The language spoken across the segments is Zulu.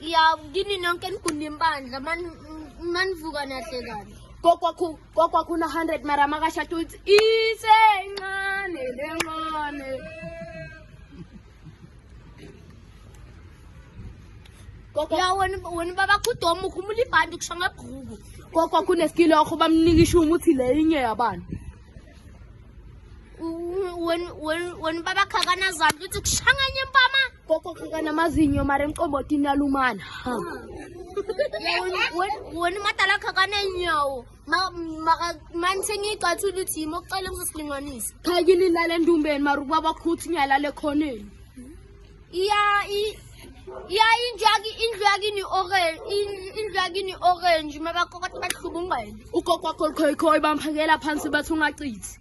Ya kini nonke nigunda impandla manivuka nahle kabi. Kokwakho kokwakho una 100 mara makashada uthi isencane lencane. ya wena wena baba kudoma ukhumula ibhandi kusho ngebhuku kokwa kuneskilo yakho bamnika ishumu uthi le inye yabani wena baba khakana zandla uthi kushanganye impama Koko kaka na mazinyo mare mqobo tina lumana. Ha. Woni matala kaka na nyawo. Ma ma man sengi qathu luthi mo cela ngisilinganisa. Khayini lale ndumbeni mare ukuba bakhuthi nyala le khoneni. Iya i Ya indlu yaki indlu yakini orange indlu yakini orange mabakokoti bahlubungqele. Ukoko kwakho khoi khoi bamphakela phansi bathi ungacithi.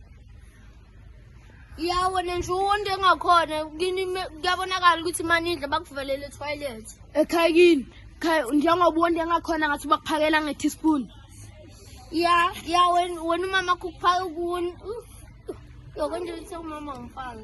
yawona nje uwonto engakhona kini kuyabonakala ukuthi manidla bakuvalele etoilet ekhaya kini khaya njengoba uwonto engakhona ngathi bakuphakela nge-teaspoon ya ya wena umama kukuphaka kuni yokonje ukuthi umama ngifake